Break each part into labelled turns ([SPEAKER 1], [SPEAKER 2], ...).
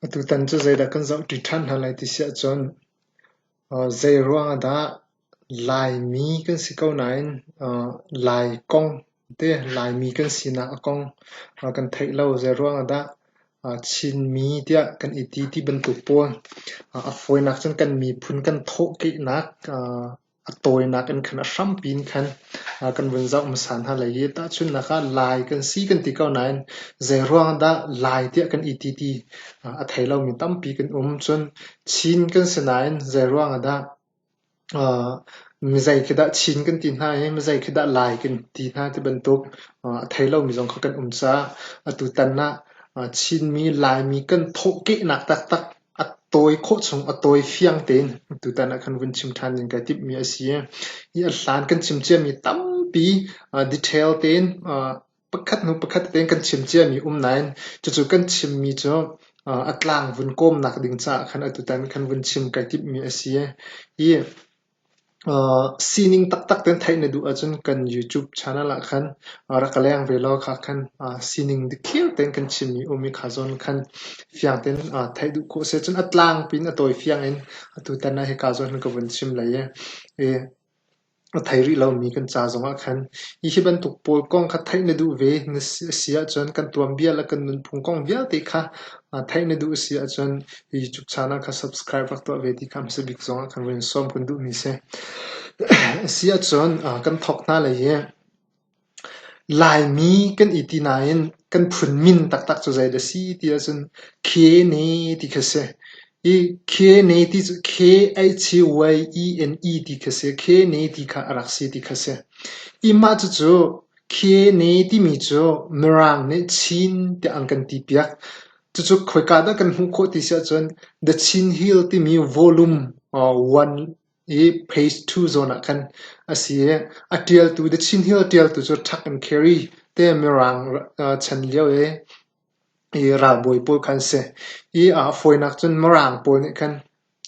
[SPEAKER 1] Atutan cu zeidah kan zohṭi ṭhan hna lai ti si ahcun zeiruang ah dah Laimi kan si ko nain Lai kong te Laimi kan sinak a kong kan theih lo. Zeiruang ah dah Chinmi tiah kan i ti ti bantuk pawl a fawinak cun kan miphun kan thawhkehnak A tawinak in khan a hrampi in khan kan vun zoh hmasa hna lai i tahchunhnak ah Lai kan si kan ti ko nain zeiruang ah dah Lai tiah kan iti ti a thei lomi tampi kan um. Cun Chin kan si nain zeiruang ah dah mizei khi dah Chin kan ti hna i mizei khi dah Lai kan ti hna ti bantuk a thei lomi zong kha kan um caah atutan ah Chinmi Laimi kan thawhkehnak taktak A tawi khawh chung a tawi fiang tein tutan ah kan vun chim ṭhan ning kai timhmi a si. Hi a hlan kan chim ciami tampi detail tein pakhat hnu pakhat tein kan chim ciami um nain cucu kan chimmi cu a tlang vun kawmnak ding caah khan atutan kan vun chim kai timhmi a si. Hi Sining taktak tein theih na duh ahcun kan YouTube channel ah khan rak ka leng ve law kha khan sining dikthlir tein kan chimmi um i kha zawn khan fiang tein theih duh khawh a si ahcun a tlangpi in a tawi fiang in tutan ah hika zawn khan ka vun chim lai i a thei rih lomi kan ca zong ah khan hihi bantuk pawl kong kha theih na duh ve na si ahcun kan tuanbia le kan nunphung kong vialte kha theih na duh a si ahcun Hihi Cuk Channel kha subscribe rak tuah ve ti kha hmasa bik zongah kan run sawm kun duhmi a si. Asi ahcun uh, kan thawk hna lai i Laimi kan i ti nain kan phun min taktak cu zei dah si ti ahcun Khene ti kha si. I Khene ti cu K-H-Y-E-N-E ti kha si. Khene ti kha a rak si ti kha si. I mah cucu Khene timi cu Mirang nih Chin tiah an kan ti piak. Cucu khoika dah kan hmuh khawh ti si ahcun The Chin Hill timi volume one i phase two zawn ah khan a si i a ṭialtu The Chin Hill ṭialtu cu Tuck and Carey te Mirang chan lio i ralbawi pawl kha an si i a fawinak cun Mirang pawl nih khan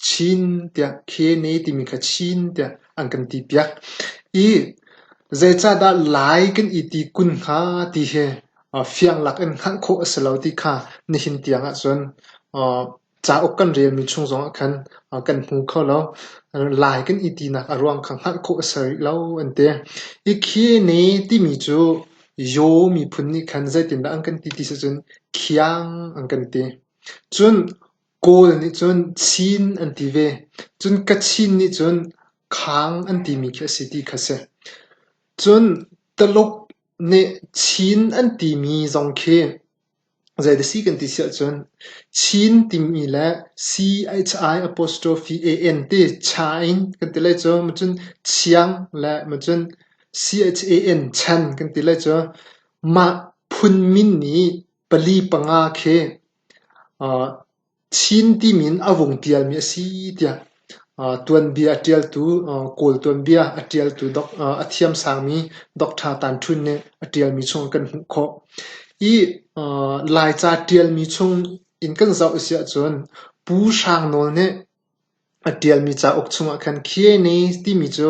[SPEAKER 1] Chin tiah Khene timi kha Chin tiah an kan ti piak i zeicahdah Lai kan i ti kun hnga ti hi fianglak in hngalh khawh a si lo ti kha nihin tiang ahcun cauk kan relmi chung zongah khan kan hmu kho lo. Lai kan i tinak a ruang kha hngalh khawh a si rih lo an ti. Hi Khene timi cu Yaw miphun nih khan zeitindah an kan ti ti sicun khiang an kan ti. Cun Kawl nih cun Chin an ti ve, cun Kachin nih cun Khang an timi khi a si ti kha si. Cun Taluk nih Chin an timi zong khi zei dah si kan ti siah cun Chin timi le C-H-I apostrophe A-N ti cha in kan ti lai cu maw cun Chiang le maw cun C-H-A-N chan kan ti lai cu. Mah phun min nih pali panga khi Chin timi in a vung tialmi a si tiah tuanbia a ṭialtu Kawl tuanbia a ṭialtu a thiamsangmi Doctor Tan Ṭhun nih a ṭialmi chung ah kan hmuh khawh. Hi Laica ṭialmi chung in kan zoh a si ahcun Pu Hrang Nawl nih A ṭialmi cauk chungah khan Khyene timi cu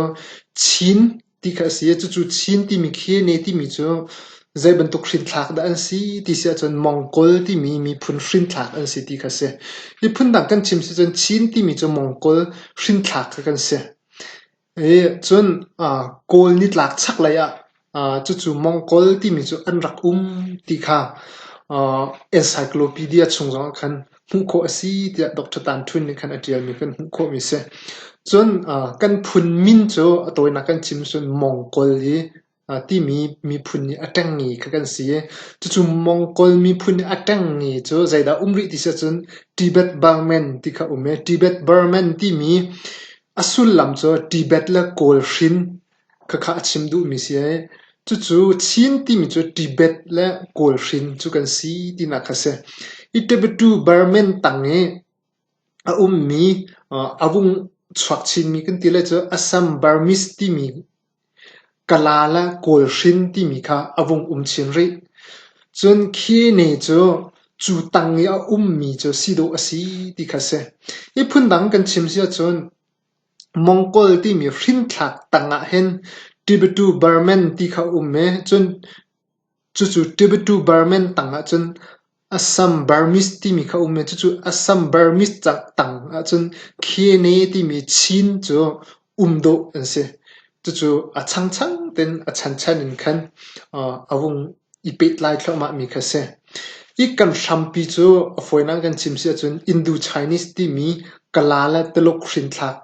[SPEAKER 1] Chin ti kha a si i cucu Chin timi Khyene timi cu zei bantuk hrinthlak dah an si ti si ahcun Mongol timi miphun hrinthlak an si ti kha a si. Miphun dang kan chim si ahcun Chin timi cu Mongol hrinthlak kha kan si. Cun Kawl nitlak chaklei ah cucu Mongol timi cu an rak um ti kha encyclopedia chung zong ah khan hmuh khawh a si tiah Doctor Tan Htun nih khan a ṭialmi kan hmuh khawhmi a si. Cun kan phun min cu a tawinak kan chim cun Mongol i timi miphun nih a ṭengmi kha kan si i cucu Mongol miphun nih a ṭengmi cu zeidah um rih ti si ahcun Tibet Burman ti kha um i Tibet Burman timi a sullam cu Tibet le Kawl hrin khakha a chim duhmi si i cucu Chin timi cu Tibet le Kawl hrin cu kan si tinak kha a si. Hi Tibetu Burman tang i A ummi, a vung chuak chinmi kan ti lai cu Assam Burmese timi kala le kawlhrin timi kha a vung um chin rih. Cun khi ne cu cu tang i a ummi cu si dawh a si ti kha a si. Hi phundang kan chim si ahcun Mongol timi hrinthlak tang ah hin Tibetu Burman ti kha a um i cun Cucu Tibetu Burman tang ahcun Assambarmis timi kha a um i cucu Assambarmis tang ahcun Khene timi Chin cu um dawh an si. Cucu a changchang tein a chanchan in khan a vung i pehtlai thluahmahmi kha a si. Hi kan hrampi cu a fawinak in kan chim si ahcun Indu-Chinese timi Kala le Tuluk hrinthlak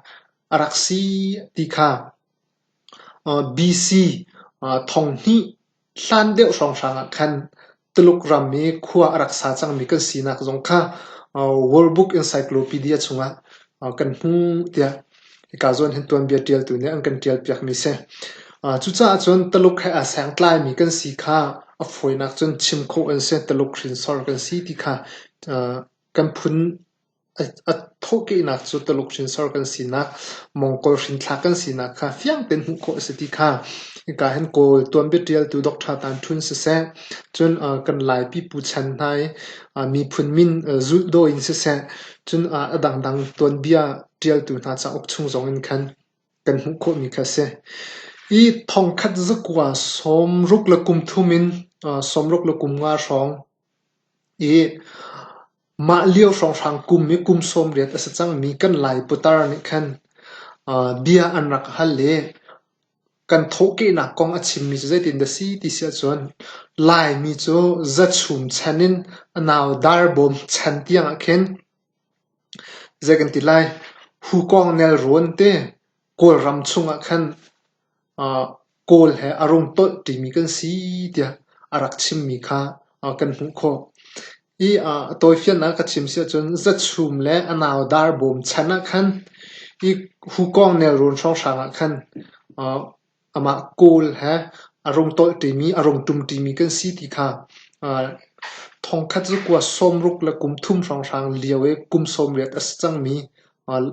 [SPEAKER 1] a rak si ti kha BC Thonghnih hlan deuh hrawnghrang ah khan Tuluk ram i khua a rak sa cangmi kan sinak zong kha World Book Encyclopedia chungah kan hmuh tiah hika zawn hin tuanbia ṭialtu nih an kan ṭialpiakmi a si. Cucaah cun Tuluk he aa sengtlaimi kan si kha a fawinak cun chim khawh an si. Tuluk hrinsor kan si ti kha kan phun A thawhkehnak cu Tuluk hrinsor kan sinak, Mongol hrinthlak kan sinak kha fiang tein hmuh khawh a si ti kha hika hin Kawl tuanbia ṭialtu Doctor Tan Ṭhun siseh, cun kan Lai pipu chan hna i miphun min zulhdaw in siseh, cun a dangdang tuanbia ṭialtu hna cauk chung zong in khan kan hmuh khawhmi kha a si. I thongkhat zakua sawmruk le kum thum in sawmruk le kum nga hrawng i Mah lio hrawnghrang kum i kum sawmriat a si cangmi kan Lai putar nih khan bia an rak hal i kan thawhkehnak kong a chimmi cu zeitin dah si ti si ahcun Laimi cu zachum chan in a nau darbawm chan tiangah khin zei kan ti lai, hukawng nelrawn te Kawlram chungah khan kawl he a rung tolh ṭimi kan si tiah a rak chimmi kha kan hmuh khawh. I a tawifiannak ka chim si ahcun zachum le a nau dar bawm chan ah khan i hukawng nelrawn hrawnghrang ah khan amah kawl he a rung tolh ṭimi, a rung ṭum ṭimi kan si ti kha thongkhat cu kua sawmruk le kum thum hrawnghrang lio i kum sawm riat a si cangmi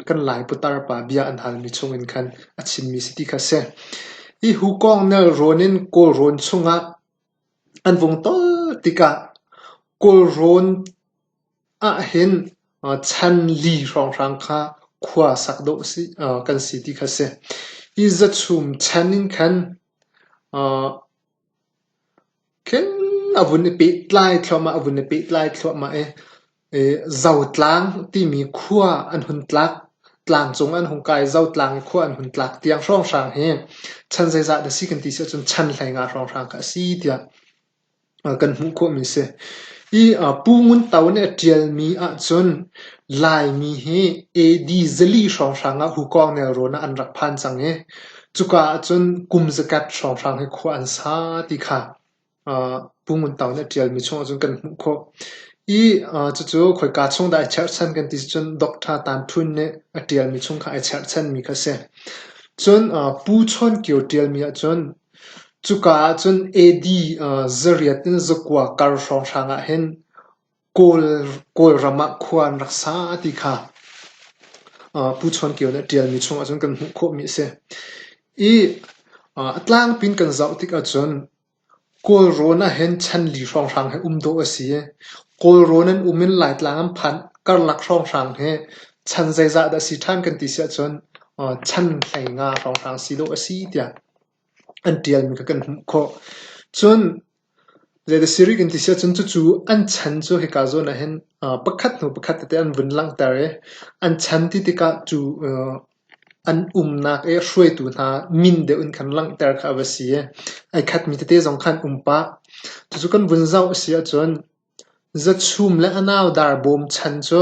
[SPEAKER 1] kan Lai putar pa bia an halmi chungin khan a chimmi si ti kha a si. Hi hukawng nelrawn in kawlrawn chungah an vung tawl tikah kawlrawn ahhin chan li hrawnghrang kha khua sak dawh kan si ti kha a si. Hi zachum chan in khan khin a vun i pehtlai thluahmah, a vun i pehtlai thluahmah i Zotlang timi khua an hun tlak. Tlangcung an hung kai. Zotlang i khua an hun tlak tiang hrawnghrang hi chan zeizah dah a si kan ti si ahcun chan hleinga hrawnghrang kha a si tiah kan hmuh khawhmi a si. I Pu Ngun To nih a ṭialmi ahcun Laimi hi AD zali hrawnghrang ah Hukawng nelrawn ah an rak phan cang i cuka ahcun kum zakat hrawnghrang hi khua an sa ti kha Pu Ngun Tang nih a ṭialmi chungah cun kan hmuh khawh. I cucu khoika chung dah ai cherhchan kan ti cun Doctor Tan Htun nih a ṭialmi chung kha ai cherhchanmi kha a si. Cun Pu Chawn Kio ṭialmi ahcun cuka ahcun AD zariat in zakua kar hrawnghrang ahhin Kawlram ah khua an rak sa ti kha Pu Chuan Kio nih a ṭialmi chungah cun kan hmuh khawhmi a si. I a tlangpi in kan zoh tik ahcun Kawlrawn ahhin chanli hrawnghrang hi um dawh a si i Kawlrawn an um in Laitlang an phan karlak hrawnghrang hi chan zeizah dah a si ṭhan kan ti si ahcun chan hlei nga hrawnghrang si dawh a si tiah an ṭialmi kha kan hmuh khawh. Cun Zei dah si rih kan ti si ahcun cucu an chan cu hika zawn ahhin pakhat hnu pakhat tete an vun langhter i an chan ti tikah cu an umnak i hruaitu hna min deuh in khan langhter kha a va si i ai khatmi tete zong kha an um pah. Cucu kan vun zoh a si ahcun, Zachum le a nau dar bawm chan cu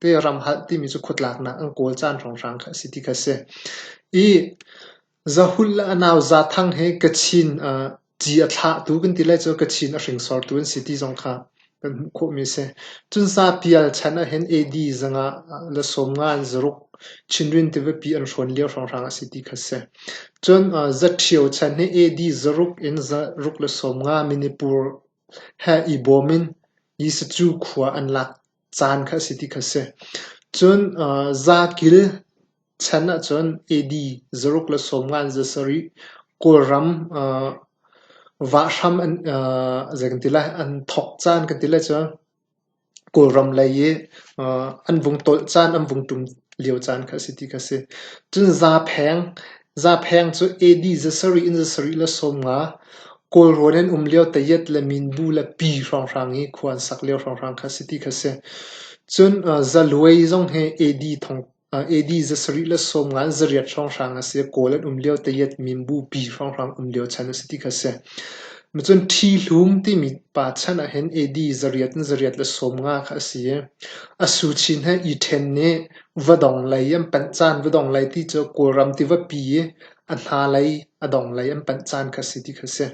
[SPEAKER 1] Peram halh timi cu khuatlaknak an kawl caan hrawnghrang kha a si ti kha a si. I zahul le a nau Zathang hi Kachin ci a thlahtu kan ti lai cu Kachin a hringsortu an si ti zong kha kan hmuh khawhmi a si. Cun Sapial chan ahhin AD zang ah le sawmnga an zaruk Chinrin tivapi an hrawn lio hrawnghrang a si ti kha a si. Cun Zaṭhio chan hi AD zaruk in zaruk le sawmnga Manipur he i bawm in Jesucu khua an lak caan kha a si ti kha a si. Cun aa zakil chan ahcun AD zaruk le sawmnga in za sarih Kawlram aa vah hram an aa zei kan ti lai an thawk caan kan ti lai cu Kawlram lei i aa an vung tolh caan an vung ṭum lio caan kha a si ti kha a si. Cun zapheng Zapheng cu AD za sarih in za sarih le sawm nga, Kawlrawn an um lio Tayet le Minbu le Pi hrawnghrang i khua an sak lio hrawnghrang kha a si ti kha a si. Cun Zaluai zong hi AD za sarih le sawm nga in za riat hrawnghrang a si i Kawl an um lio Tayet, Minbu, Pi hrawnghrang um lio chan a si ti kha a si. Cun Ṭhi Hlum timi pa chan ahhin AD za riat in za riat le sawm nga kha a si i a su chin he i ṭhen nih Vadong lei an panh caan vadong lei ti cu Kawlram tiva pi i a hna lei a dong lei an panh caan kha a si ti kha a si.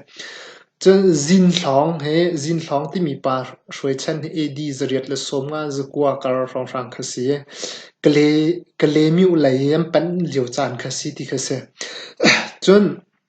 [SPEAKER 1] Cun Zinhlawng hi Zinhlawng timi pa Hruai Chan hi AD zariat le sawm nga zakua kar hrawnghrang kha a si i Kale Myu lei i an panh lio caan kha a si ti kha a si. Cun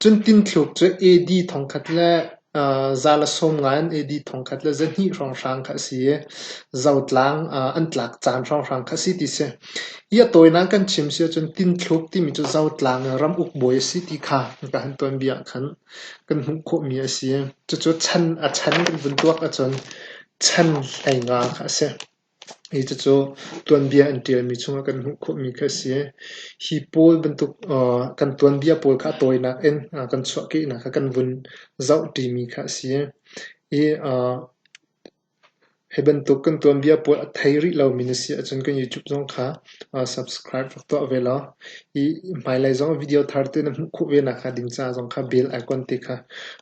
[SPEAKER 1] Cun tinthluk cu AD thongkhat le za le sawm ngai an AD thongkhat le za hnih hrawnghrang kha a si i zotlang an tlak caan hrawnghrang kha a si ti si. Hi a tawinak kan chim si ahcun tinthluk timi cu zotlang in ramuk bawi a si ti kha kan tuanbia ah khan kan hmuh khawhmi a si. Cucu chan a chan kan vun tuak ahcun chan hleinga kha a si. Hi cucu tuanbia an ṭialmi chungah kan hmuh khawhmi kha a si. Hi pawl bantuk kan tuanbia pawl kha a tawinak in kan chuahkehnak ah kan vun zoh ṭimi kha a si. Hi hi bantuk kan tuanbia pawl a thei rih lomi na si ahcun kan YouTube zong kha subscribe rak tuah ve law hi hmailei zong video thar te na hmuh khawh ve nakhnga ding caah zong kha bell icon te kha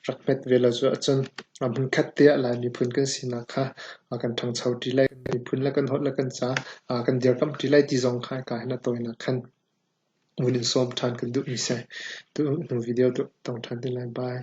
[SPEAKER 1] rak hmet ve law cu ahcun Hmunkhat te ah Lai miphun kan sinak kha a kan ṭhangcho ṭi lai, kan miphun le kan holh le kan ca a kan dirkamh ṭi lai ti zong kha hika hin a tawinak khan vun in sawm ṭhan kan duhmi a si. Hnu video tong ṭhan te lai. Bye.